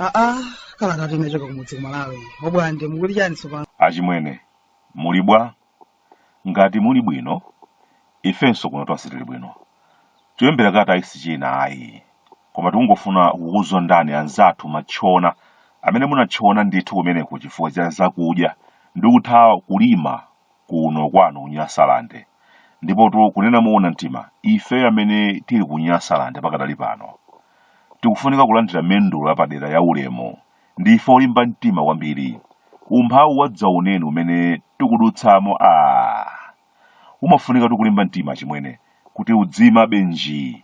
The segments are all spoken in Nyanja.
aa kala kati unachoka kumudzi kumalawi obwande mukuti chani tsopano achimwene muli bwa ngati muli bwino ifenso kuno tonse tili bwino cholembera kalatayi si china ayi koma tikungofuna kukuzondani anzathu matchona amene munatchona ndithu kumeneko chifukwa cha zakudya ndi kuthawa kulima kuno kwanu ku nyasalande ndipotu kunena moona mtima ife amene tili ku nyasalande pakadali pano tikufunika kulandira mendulo yapadera ya ulemu Ndife olimba mtima kwambiri. Umphawi wadzaoneni umene tikudutsamo aah! Umafunikatu kulimba mtima achimwene kuti udziimabe njii.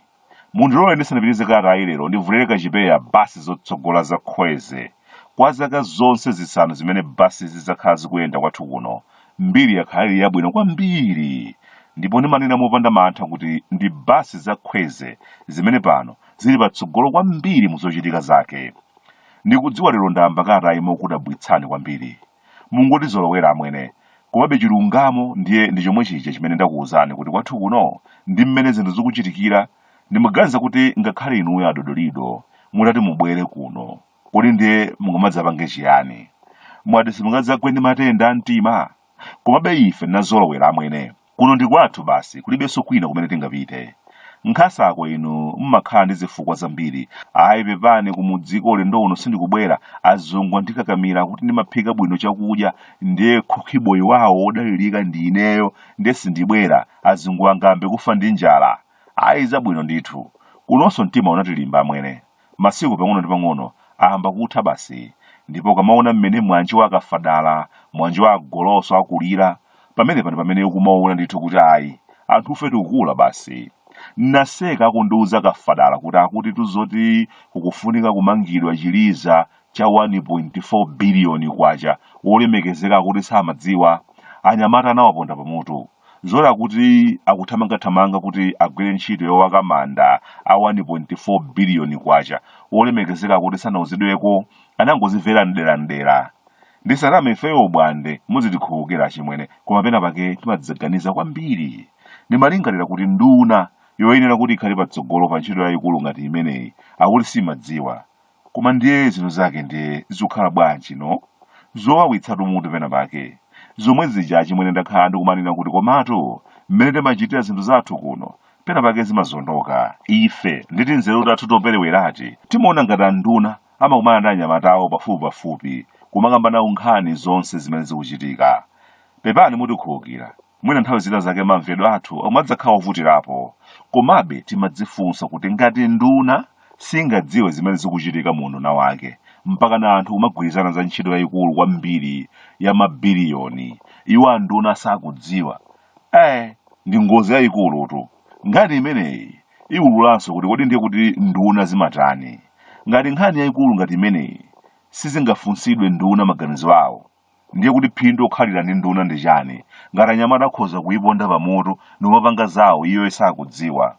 Mundilole ndisanapitirize kalatayi lero ndivulire kachipewa bus zotsogola za Kwezy. Kwa zaka zonse zisanu zimene busizi zakhala zikuyenda kwathu kuno, mbiri yakhala ili yabwino kwambiri. Ndipo ndimanena mopanda mantha kuti ndi bus za Kwezy zimene pano zili patsogolo kwambiri muzochitika zake. Ndikudziwa lero ndayamba kalatayi mokudabwitsani kwambiri. Mungotizolowera amwene. Komabe chilungamo ndiye ndi chomwe chija chimene ndakuwuzani kuti kwathu kuno ndi mmene zinthu zikuchitikira ndimaganiza kuti ngakhale inuyo adodolido mutati mubwere kuno kodi ndiye mungamadzapange chiyani? Mwati simungadzagwe ndi matenda a mtima? Komabe ife tinazolowera amwene. Kuno ndi kwathu basi kulibenso kwina kumene tingapite. Nkhasako inu mmakhala ndi zifukwa zambiri. Ayi pepani kumudziko ulendo uno sindikubwera, azungu andikakamira kuti ndimaphika bwino chakudya ndiye khukhiboyi wawo wodalirika ndi ineyo ndiye sindibwera, azunguwa angayambe kufa ndi njala. Ayi zabwino ndithu. Kunonso mtima unatilimba amwene. masiku pang'ono ndi pang'ono ayamba kutha basi ndipo ukamaona mmene mwanji wa akafadala mwanji wa agoloso akulira pamenepa ndi pamene ukumaona ndithu kuti ayi anthufe tikukula basi naseka akundiuza kafadala kuti akutitu zoti kukufunika kumangidwa chiliza cha 1.4 biliyoni kwacha wolemekezeka akuti samadziwa anyamata anawaponda pamutu N'zoona kuti akuthamangathamanga kuti agwire ntchito yowaka manda a 1.4 biliyoni kwacha, wolemekezeka akuti sanauzidweko, anangozimvera mdera mdera. Ndisaname ifeyo obwande, muzitikhululukira achimwene koma pena pake timadzaganiza kwambiri. Ndimalingalira kuti nduna yoyenera kuti ikhale patsogolo pa ntchito yayikulu ngati imeneyi akuti simadziwa. koma ndiye zinthu zake ndiye zikukhala bwanji no zowawitsatu mutu pena pake zomwe zija achimwene ndakhala ndikumanena kuti komatu mmene timachitira zinthu zathu kuno pena pake zimazondoka ife ndi tinzeru tathu toperewerati timaona ngati anduna amakumana ndi anyamata awo pafupipafupi kumakamba nawo nkhani zonse zimene zikuchitika pepani mutikhululukira Mwina nthawi zina zake mamvedwe athu omadzakhala ovutirapo. Komabe timadzifunsa kuti ngati nduna singadziwe zimene zikuchitika mu unduna wake, mpakana anthu kumagwirizana za ntchito yayikulu kwambiri ya mabiliyoni, iwo anduna asakudziwa, eh, ndi ngozi yayikulutu. Nkhani imeneyi iwululanso kuti kodi ndiye kuti nduna zimatani? Ngati nkhani yayikulu ngati imeneyi sizingafunsidwe nduna maganizo awo, ndiye kuti phindu okhalira ndi nduna ndi chani ngati anyamata akhoza kuyiponda pamutu ndikumapanga zawo iyo isakudziwa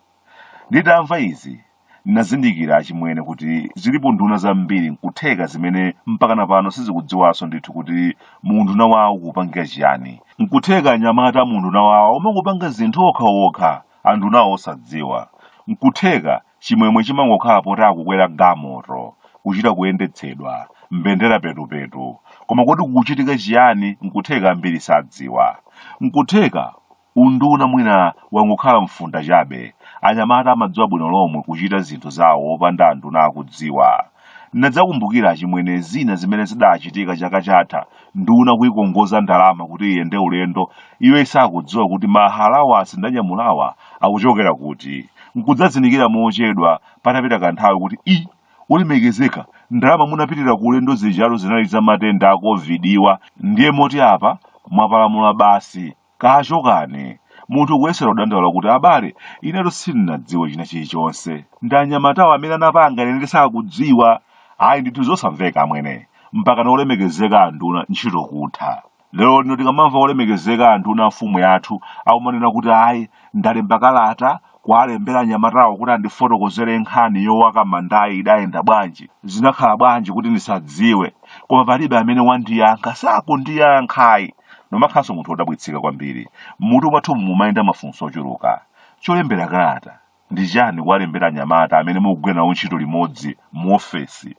nditamva izi ndinazindikira achimwene kuti zilipo nduna zambiri nkutheka zimene mpakana pano sizikudziwanso ndithu kuti muunduna wawo kupangira chiyani nkutheka anyamata a muunduna wawo omangopanga zinthu okhaokha andunawo osadziwa nkutheka Chimwemwe chimangokhala poti akukwera galimoto, kuchita kuyendetsedwa, mbendera petupetu. Koma kodi kukuchitika chiyani? N'kutheka ambiri sadziwa. N'kutheka unduna mwina wangokhala mfunda chabe. Anyamata amadziwa bwino lomwe kuchita zinthu zawo opanda anduna akudziwa. Ndinadzakumbukira achimwene zina zimene zidaachitika chaka chatha, nduna kuikongoza ndalama kuti iyende ulendo, iyo isakudziwa kuti ma allowance ndanyamulawa akuchokera kuti, nkudzazindikira mochedwa patapita kanthawi kuti, ii, olemekezeka, ndalama munapitira ku ulendo zijatu zinali za matenda a Covid-wa, ndiye moti apa mwapalamula basi. Kachokani! Munthu kuyesera kudandaula kuti, Abale, inetu sindinadziwe china chilichonse. Ndi anyamatawo amene anapanga, ine ndisakudziwa. Ayi ndithu zosamveka amwene. Mpakana olemekezeka anduna ntchito kutha. Lero lino tikamamva olemekezeka anduna a mfumu yathu akumanena kuti ayi ndalemba kalata kuwalembera anyamatawo kuti andifotokozere nkhani yowaka mandayi idayenda bwanji zinakhala bwanji kuti ndisadziwe koma palibe amene wandiyankha sakundiyankhayi ndimakhalanso munthu wodabwitsika kwambiri mmutu mwathumu mumayenda mafunso ochuluka cholembera kalata ndi chani kuwalembera anyamata amene mukugwira nawo ntchito limodzi mu ofesi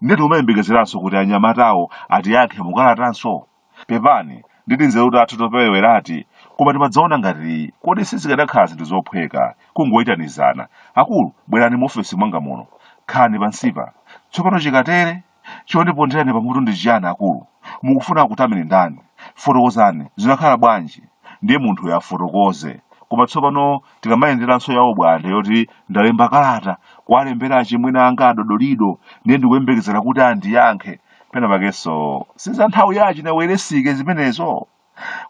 ndeti umayembekezeranso kuti anyamatawo atiyankhe mukalatanso Pepani, ndi tinzeru tathu topereweratu, koma timadzaona ngati kodi sizikadakhala zinthu zophweka kungoitanizana, Akulu, bwerani mu ofesi mwanga muno. Khalani pansipa. Tsopano chikatere, chondiponderani pamutu ndi chiyani, akulu? Mukufuna akutameni ndani? Fotokozani, zinakhala bwanji? Ndiye munthuyo afotokoze. Koma tsopano tikamayenderanso ya Obwande yoti ndalemba kalata kuwalembera achimwene anga a Dodolido, ndiye ndikuyembekezera kuti andiyankhe. pena pakenso si za nthawi ya achina Welensky zimenezo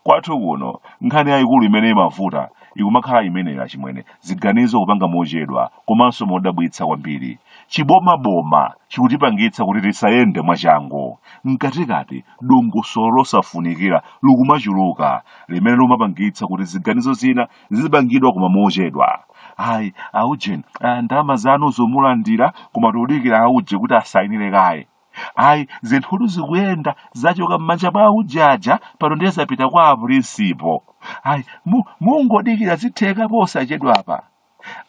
kwathu kuno nkhani yayikulu imene imavuta ikumakhala imeneyo achimwene ziganizo kupanga mochedwa komanso modabwitsa kwambiri chibomaboma chikutipangitsa kuti tisayende mwachangu mkatikati dongosolo losafunikira likumachuluka limene limapangitsa kuti ziganizo zina zizipangidwa koma mochedwa ayi aujeni ah, ndalama zanu zo mulandira koma tikudikira auje kuti asayinire kaye ayi zinthutu zikuyenda zachoka m'manja mwa auje aja pano ndiye zapita kwa apulinsipo ayi mu- mungodikira zitheka posachedwapa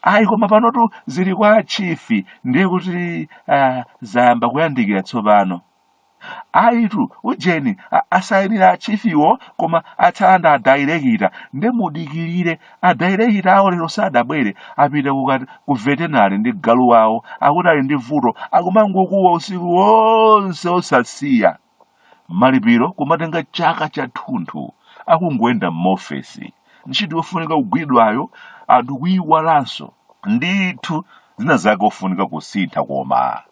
ayi koma panotu zili kwa achifi ndiye kuti ah, zayamba kuyandikira tsopano ayitu ujeni asayinira achifiwo koma atsala nda adairekita nde mudikirire adairekita awo lero sadabwere apita ku veterinary ndi galu wawo akuti ali ndi vuto akumangokuwa usiku wonse osasiya malipiro kumatenga chaka chathunthu akungoyenda m'maofesi ntchito yofunika kugwidwayo anthu kuyiwalanso ndithu zina zake ofunika kusintha koma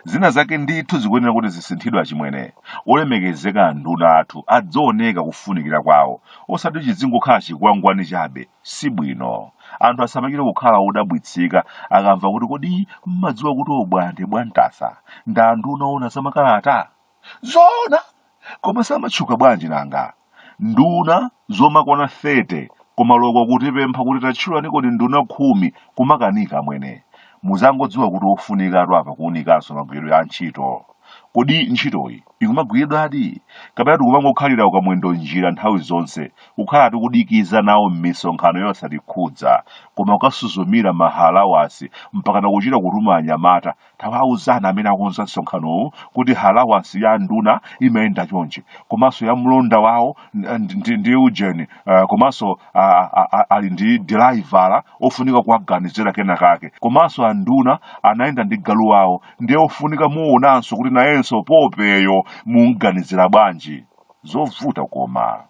zina zake ndithu zikuyenera kuti zisinthidwe achimwene olemekezeka anduna athu adzioneka kufunikira kwawo osati chizingokhala chikwangwani chabe si bwino anthu asamachite kukhala odabwitsika akamva kuti kodi mumadziwa kuti Obwande bwantasa ndi anduna ona zamakalata zoona koma samatchuka bwanji nanga nduna zomakwana 30 koma loko kutipempha kuti tatchulani kodi nduna khumi kumakanika amwene muzangodziwa kuti ofunikatu apa kuunikanso magwiridwe a ntchito kodi ntchitoyi ikumagwiridwadi kapena tikumangokhalira mwamwendo njira nthawi zonse kukhala tikudikiza nawo m'misonkhano yosatikhudza koma kukasuzumira mahalawansi mpakana kuchita kutuma anyamata Tawauzani amene akonza msonkhanowu kuti halawansi ya nduna imayenda chonchi komanso ya mlonda wawo ndi- ndi ndi ujeni eh, komanso ah, ah, ah, ali ndi diraivala ofunika kuwaganizira kena kake komanso anduna anayenda ndi galu wawo ndiye ofunika muonanso kuti nayenso popiyo mumganizira bwanji zovuta koma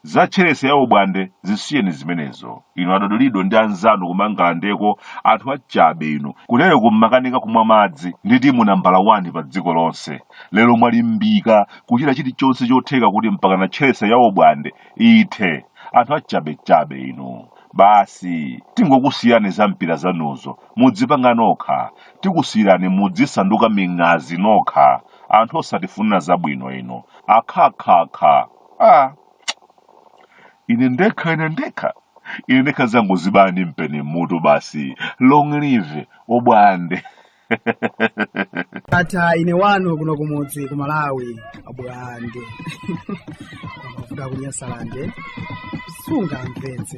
Za tcherese ya ubwande zisiyeni zimenezo. Inu adodolido ndi anzanu kumangalandeko anthu achabe inu. Kutereku mmakanika kumwa madzi ndi timu nambala 1 pa dziko lonse. Lero mwalimbika kuchita chilichonse chotheka kuti mpakana tcherese ya ubwande ithe. Anthu achabechabe inu. Basi tingokusiyirani za mpira zanuzo mudzipanga nokha. Tikusiyirani mudzisanduka ming'azi nokha. anthu osatifunira zabwino inu akhakhakha ah. ine ndekha ine ndekha ine ndekha zangozibaya ndi mpeni mmutu basi long live obwande tatha ine wanu kuno kumudzi ku malawi obwande koma kuda kunyasalande sungamvetse